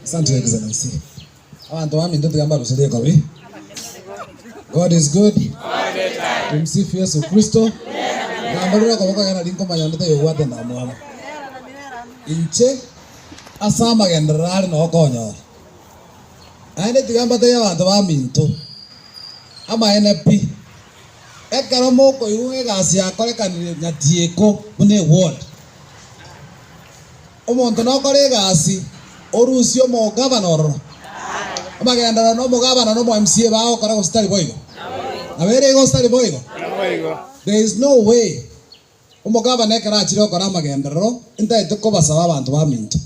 Asante your excellency. Abanto baminto tiga mbaruse rikobi. God is good. Tumsifu Yesu Kristo. Namborera okoboko agere nari nkomanya onde tayobwate ndamwama. Inche ase amagenderero are nao konyora. Naende tiga mbatebie abanto baminto amaene pi. Ekero mokoigwa egasi yakorekanire nyatieko buna eward. Omonto nokora egasi, orusie omogabane ororo. Amagenderero na omogabane na omoMCA bagokora gose tari boigo? Nabo ere igo gose tari boigo? There is no way omogabane ekero achire gokora amagenderero ntagete kobasaba abanto baminto.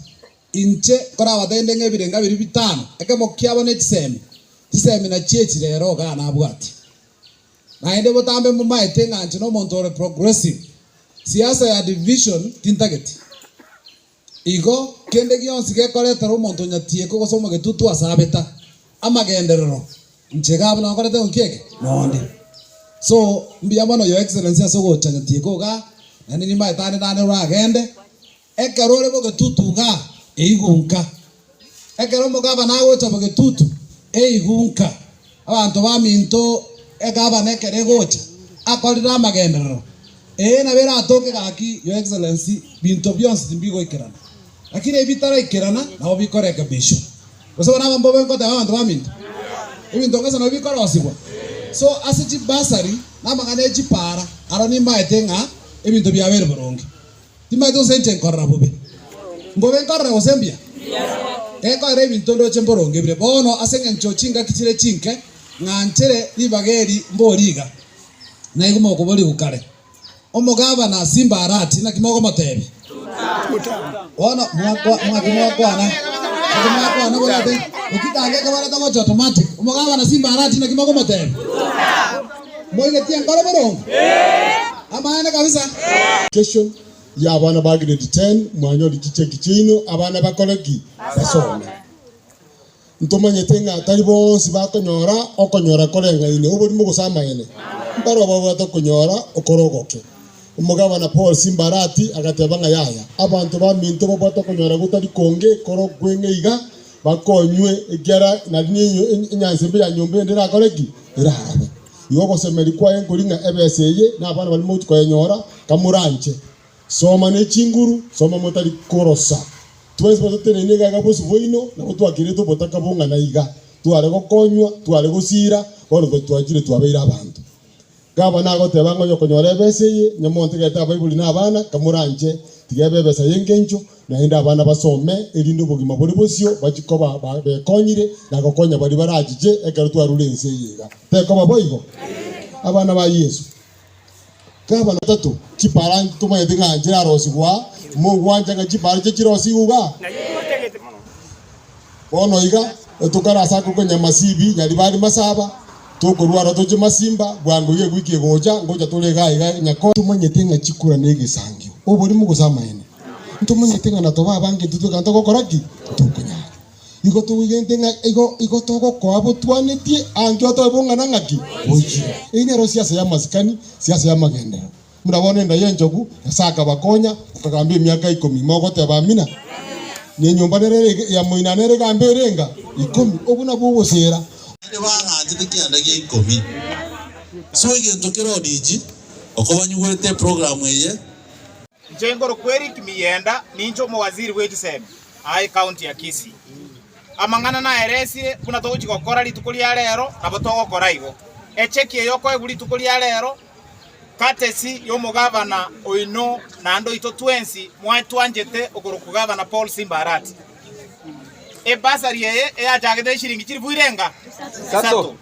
Inche nkorabatenetie ng'a ebirenga biria bitano, ekemo kiabo nechisemi, chisemi nachio echi rero iga nabwatie. Naende botambe momaete ng'a inche nomonto ore progressive, siasa ya division tintageti. Igo kende gionsi gekoretera omonto onyatieko gose omogetutu ase abeta amagenderero, inche iga abwo nakorete ng'o kieke? Noonde. So, mbuya mono your excellency ase ogocha nyatieko igaa, naende nimaete ande nane oragende. Ekero ore bogetutu iga, eigunka. Ekero omogabana agocha bogetutu, eigunka. Abanto baminto egabana ekero egocha, akorire amagenderero, ee nabo eratoke gaki, Your Excellency, binto bionsi timbigoikerana. Lakini ebi bitaraikerana nabo bikorekebishwa. Gose bono abambe obe nkoteba abanto baminto, ebinto ngeso nabio bikorosibwa. So ase chibursary na amang'ana e chipaara, aro nimbaete ng'a ebinto biabeire boronge. Timaete gose inche nkorora bobe, ngobe nkorora gose mbuya? Gekorera ebinto ndoche mboronge bire. Bono ase engencho chingaki chire chinke ng'anchire ribaga eri mborie iga, naigwe mokoborigwa kare, Omogabana Simbarati naki mogomotebia? Bono mwaki mwakwana, naki mwakwana borente, ekitanga eke barente gocha automatic, Omogabana Simbarati naki mogomotebia? Moigetie enkoro boronge? Amaene kabisa. Kesho ya abana ba grade ten mwanyore chicheki chiaino abana bakore ki? Basome. Ntomanyete ng'a tari bonsi bakonyora okonyora koreng'aine oborimo gose amaene. Mbarabwo babwate okonyora okore ogoke. Omogabana Paul Simbarati agateba ng'a yaya, abanto baminto babwate okonyora gotari konge kore okweng'e iga, bakonywe, ekiagera nari ninyo enyanse mbe ya nyomba ende erakore ki? Eraabe. Igo ogosemeria kwaye nkori ng'a ebesa eye nabana baria mogotwa koyenyora kamoranche. Soma ne chinguru, soma motari korosa. Twensi bato totenenine iga iga bosio bwaino, nabo twakeretwe obotaka bong'ana iga. Tware gokonywa, tware gosiira, bono twachiire twabeire abanto. Gavana agoteba ng'a onyokonyora ebesa eye, onye montegete abaibori na abana, kamoranche, tiga ebe ebesa y'engencho, naende abana basome, erinde obogima bore bosio bachie koba bekonyire na gokonya baria barachiche ekero twarure ense eye iga. Tekoba boigo? Abana ba Yeso. Gavana o gatato, chipara tomanyete ng'a nchirarosigwa aa, mogwancha ng'a chipara iche chirosigwe iga? Bono iga, etokare ase ako konya masibi nyaribari masaba, tokorua aro toche masimba, bwango iga egwiki egocha, ngocha tore iga aiga nyakore. Ntomanyete ng'a chikura negesangio, oborimo gose amaene? Ntomanyete ng'a natoba abange intwe twekana togokora ki? Tokonyara. Igo toigente ng'a igo igo togokoa botwanetie, angio toe bong'ana ng'aki? Goichire. Eyi nero siasa y'amasikani, siasa y'amagenderero. Buna bono enda y'enchogu, Nyasae akabakonya, akagamba emiaka ikomi. Mogoteba, Amina. Nenyomba nere ere ya moina nere egamba erenga ikomi. Obwo nabwo ogosera. Naende baagaachete kianda gia ikomi. So egento kera odiiji okobanyugwete eprogramu eye. Inche nkorokwa Eric Miyenda, ninche omowaziri bw'echisemi aa ecounty ya Kisii. Amang'ana naeresire buna togochia gokora rituko ria rero nabo togokora igo. Echeki eye okoegwa rituko ria rero Courtesy y'omogabana oino naende oito twensi mwaye twanchete okorokwa Gavana Paul Simba Arati. Ebasari eye eyachagete nesiringi chilifu irenga isato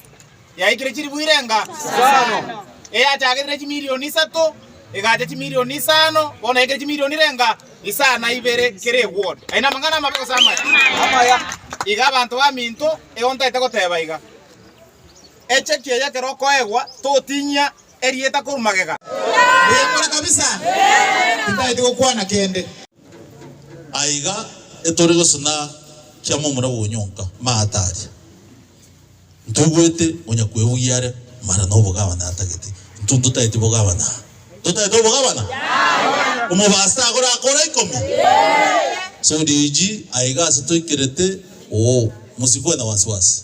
yaikire chilifu irenga isano, eyachagete nechimilioni isato egacha chimilioni isano bono yaikire chimilioni irenga isano na ibere kera eward. Aye namang'ana amabe gose amaya? Amaya. Iga abanto baminto egontaete goteba iga. Echaki eye ekero okoegwa totinyia erieta korwa magega. Oyekora kabisa tintagete gokwana kende. Aiga etori gose na kiama omura bwonyonka maata aria. Ntuguete onya kwebugia are mara na obogabana atagete. Ntu ntotageti bogabana? Ntotagete obogabana? Omobaso tagora akora ikomi? Sodiiji aiga ase toikerete oo, mosigwe na wasiwasi.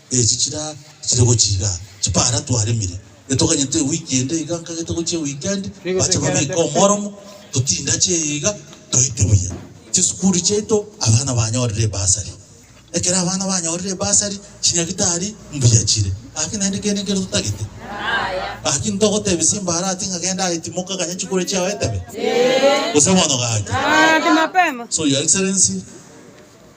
Echi chira chire gochiga chipara twaremire, getoganyete ewiki ende iga nkagete gochia ewikendi, bache babeke omoromo, totindache eye iga, toite buya chisukuru chiaito, abana banyorire ebasari. Ekero abana banyorire ebasari, chinyagitari mbuya chire, gaki naende kende nkere totagete? Gaki ntogotebia simba arati ng'a genda aye timoka ganya chikure chiao etebe? Gose bono gaki? So your excellency.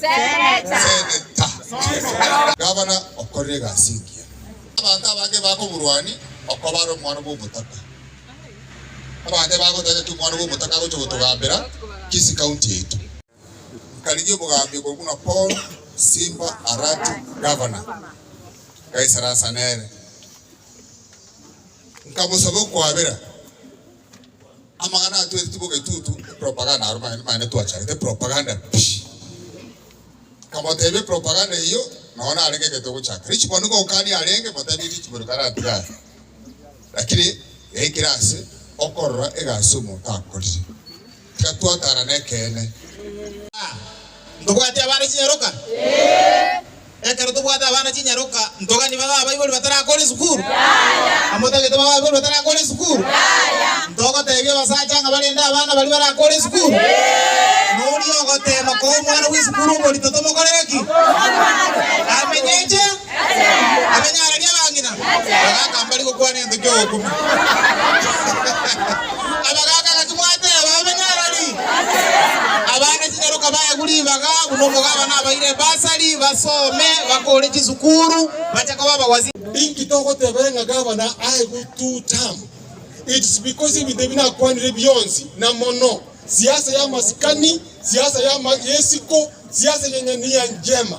Seneta. Gavana okorera egasi engiya. Abanto abange bakomorwania okoba are omwana bw'omotaka. Abanto ebagoteba ng'aki omwana bw'omotaka agocha gotogambera Kisii County yaito. Nkarigia obogambi okorwa buna Paul Simba Arati Gavana, ngaisara asa nere, nkamosaba okwabera. Amang'ana aya tweritwe bobe tutu propaganda aro mang'ana mane twachagete propaganda pi. Nkamotebia propaganda eyio nonye narenge egento ogochaka rich bono nigo ogokania arenge motebie rich bono karatiga are lakini yaikire ase okorora egasi omonto akorire. Tiga twatara nekeene. A. Ntobwati abana chinyaroka? Ee. Ekero tobwate abana chinyaroka, ntogani babe abaibori batarakore esukuru? Yaya. Amotagete babe abaibori batarakore esukuru? Yaya. Ntogotebia abasacha ng'a barende abana baria barakore esukuru? Ee. Noria ogotema koa omwana bw'esukuru omorito tomokorere ki? Amenyeche. Akanyareria abang'ina, bagaaka mbari gokwana egento ki'ogokumia. Abagaaka gati mwateba, Abanyarari, abana chinyaroka baegwe ribaga, buna omogabana abaire ebasari, basome, bakore chisukuru, bache koba abagwasi. Inki togotebera ng'a gabana aegwe two term? It's because ebinto ebi nakwanire bionsi, na mono, siasa y'amasikani, siasa y'ama- y'esiko, siasa y'eng'ania njema.